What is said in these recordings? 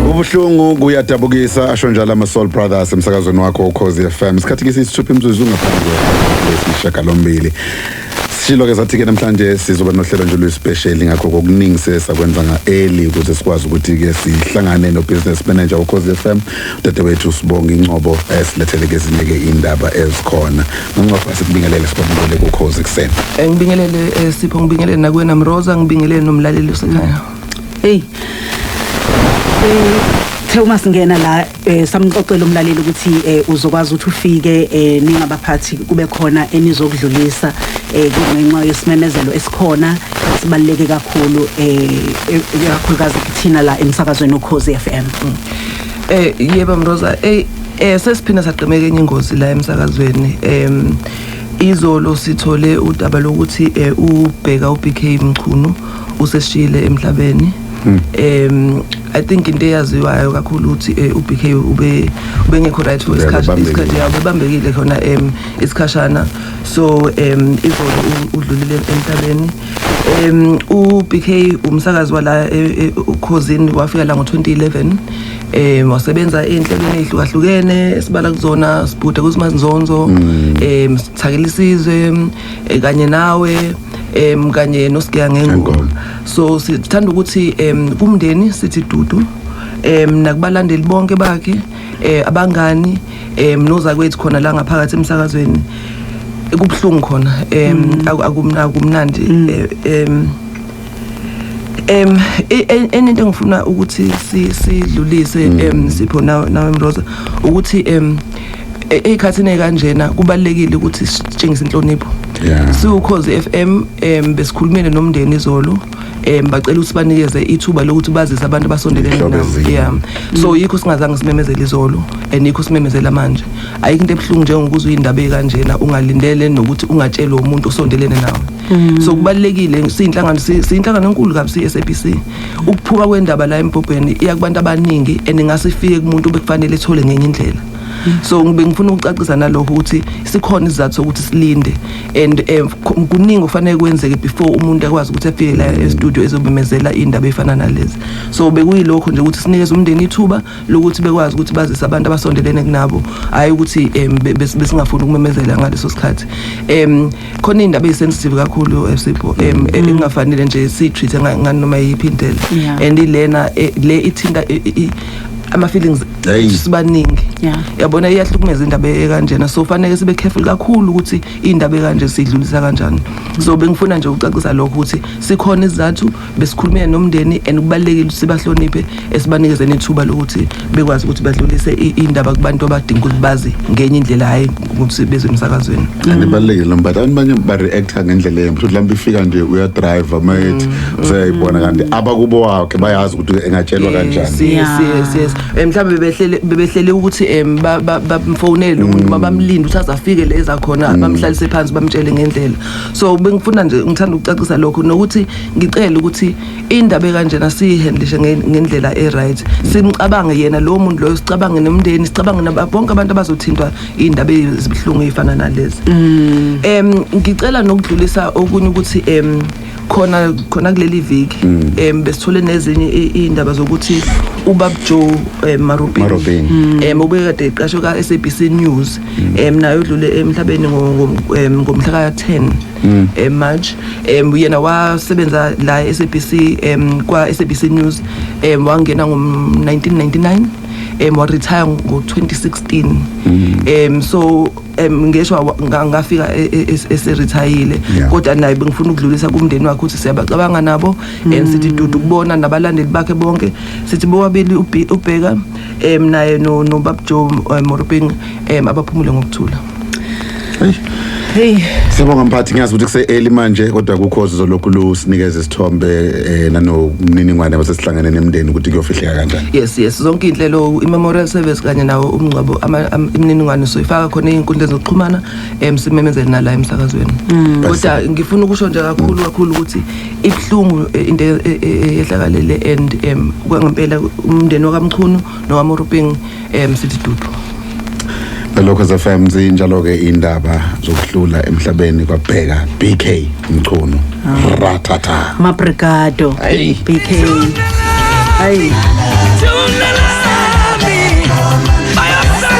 ubuhlungu kuyadabukisa asho njalo ama-soul brothers emsakazweni wakho ukhozi fm isikhathi ke siyisithupha imzuzu ngaphambi kwesishagalombili sishilo-ke sathi-ke namhlanje sizoba nohlelo nje oluyisipesheli ngakho kokuningi sesakwenza nga-eli ukuze sikwazi ukuthi-ke sihlangane no-business manager wokhozi f m udadewethu sibonga incobo esilethele-ke ezinye-ke iy'ndaba ezikhona Uncofa sikubingelele sibabulele kukhozi kuseni. Eh, ngibingelele eh, Sipho ngibingelele nakuwena Mroza ngibingelele nomlaleli osekhaya. Hey. Eh Uthe uma singena la eh, samxoxela umlaleli ukuthi eh, uzokwazi ukuthi ufike eh, ningabaphathi kube khona enizokudlulisa eh, kungenxa yesimemezelo esikhona sibaluleke kakhulu eh, eh kakhulukazi kuthina la emsakazweni ukhozi FM. Mm. Eh yebo Mroza eh Eh sesiphinda sagqemeka enye ingozi la emsakazweni em izolo sithole udaba lokuthi eh, ubheka uBK Mchunu useshile emhlabeni hmm. em i think into eyaziwayo kakhulu ukuthi eh, uBK ube ubengekho right for isikhathi isikhathi yabo bebambekile khona em isikhashana so em izolo udlulile emhlabeni em uBK umsakazi wala eh, eh, ukhozini wafika la ngo2011 um wasebenza ey'nhlelweni ey'hlukahlukene esibala kuzona sibhude kuzimanzonzo um mm. sithakela isizwe um kanye nawe um kanye nosigeya ngengoma so sithanda ukuthi um kumndeni sithi dudu um nakubalandeli bonke bakhe um abangani um nozakwethu khona la ngaphakathi emsakazweni kubuhlungu khona um mm. akumnandi um mm. eh, em e- e- enye into engifuna ukuthi si- sidlulise em sipho nawe nawe Mroza ukuthi em e- eyikhathini ekanjena kubalekile ukuthi sitshengise inhlonipho Yeah. siwukhozi FM em besikhulumile nomndeni izolo em bacela ukuthi banikeze ithuba lokuthi bazise abantu abasondelene Inhlobo nabo ezinye. yeah so yikho singazange simemezele izolo and yikho simemezela manje ayikho into ebuhlungu njengokuzwa indaba ekanjena ungalindele nokuthi ungatshelwe umuntu osondelene nawe Mm. so kubalekile siyinhlangano siyinhlangano enkulu kabi siSABC ukuphuma kwendaba la embhobheni iya kubantu abaningi and ngase ifike kumuntu obekufanele ethole ngenye indlela mm. so ngibe ngifuna ukucacisa nalokho ukuthi sikhona izizathu sokuthi silinde and eh, kuningi okufanele kwenzeke before umuntu akwazi ukuthi afike la e-studio ezobemezela indaba efana nalezi so bekuyilokho nje ukuthi sinikeze umndeni ithuba lokuthi bekwazi ukuthi bazise abantu abasondelene kunabo hayi ukuthi um besingafuni ukumemezela ngaleso sikhathi um khona iy'ndaba eyi-sensitive kakhulu esipho eh, um mm. eh, engingafanele nje siyi-treat-e nganoma yiphi indlela and ilena eh, le ithinta ama-feelings sibaningi yabona iyahlukumeza indaba ekanjena so faneke sibe careful kakhulu ukuthi iy'ndaba ekanje sidlulisa kanjani so bengifuna nje ukucacisa lokho ukuthi sikhona izizathu besikhulumile nomndeni and kubalulekile ukuthi sibahloniphe esibanikeze nethuba lokuthi bekwazi ukuthi badlulise indaba kubantu abadinga ukuthi bazi ngenye indlela hhayi ukuthi bezwe emsakazweni and ibalulekile noma but abantu banye ba-reacta ngendlela embi futhi lambe ifika nje uyadriva uma ethi mm. useyayibona kanti abakubo wakhe bayazi ukuthi engatshelwa kanjani yes yes yes eh, mhlawumbe bebehlele bebehlele ukuthi um bamfowunele umuntu mm. uma bamlinde ukuthi aze afike le ezakhona mm. bamhlalise phansi bamtshele ngendlela so bengifuna nje ngithanda ukucacisa lokho nokuthi ngicela ukuthi indaba ekanjena siyihandlishe ngendlela e-right simcabange yena lowo muntu loyo sicabange nomndeni sicabange bonke abantu abazothintwa iy'ndaba ezibuhlungu ey'fana nalezi um ngicela nokudlulisa okunye ukuthi um khona khona kuleli viki um besithole nezinye iy'ndaba zokuthi ubabjo um eh, marubin um ubekade iqasho ka-s a b c news um naye odlule emhlabeni ngomhla ka-ten mm. eh, March um yena wasebenza la e-SABC um kwa-SABC News um wangena ngo-1999 um waretire ngo-2016 um so um ngeshwa ngafika e, e, e, eserithayile kodwa naye bengifuna ukudlulisa kumndeni wakhe ukuthi siyabacabanga nabo and mm. sithi dudu kubona nabalandeli bakhe bonke sithi bobabili ubheka um naye nobabjo um moropeng um abaphumule ngokuthula Hey. Siyabonga mphathi ngiyazi ukuthi kuse early manje kodwa kukho zolokhu lusinikeza isithombe eh nanomniningwane basesihlanganene emndeni ukuthi kuyofihleka kanjani. Yes yes zonke inhlelo iMemorial Service kanye nawo umngcwabo imininingwane soyifaka khona ezinkundleni zokuxhumana emsimemezeni nala emsakazweni. Mm. Kodwa ngifuna ukusho nje kakhulu kakhulu ukuthi ibhlungu eh, into eh, eh, ehlakalele and em kwangempela umndeni wakamchunu nowaMoruping em sithi dudu Lokho FM zinjalo ke indaba zokuhlula emhlabeni kwabheka BK Mchunu ratata mabrigado BK hayi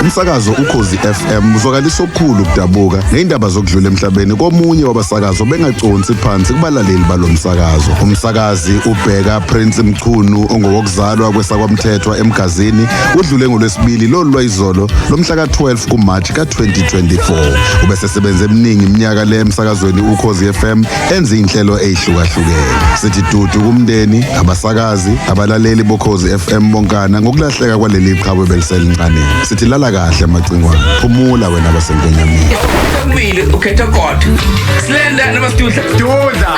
umsakazo ukhozi FM uzwakalisa okukhulu kudabuka nezindaba zokudlula emhlabeni komunye wabasakazo bengaconsi phansi kubalaleli balomsakazo umsakazi ubheka Prince Mchunu ongowokuzalwa kwesakwamthethwa eMgazini udlule ngolwesibili lolu lwayizolo lomhla ka-12 kuMarch ka-2024 ubesesebenze eminingi iminyaka le emsakazweni ukhozi FM enza iy'nhlelo ey'hlukahlukene sithi dudu kumndeni abasakazi abalaleli bokhozi FM bonkana ngokulahleka kwaleli qhawe beliselincane sithi lala kahle amacingwane phumula wena basenkwenyamini Sekumbile ukhetha kodwa. Slenda noma sidudla. Dudla.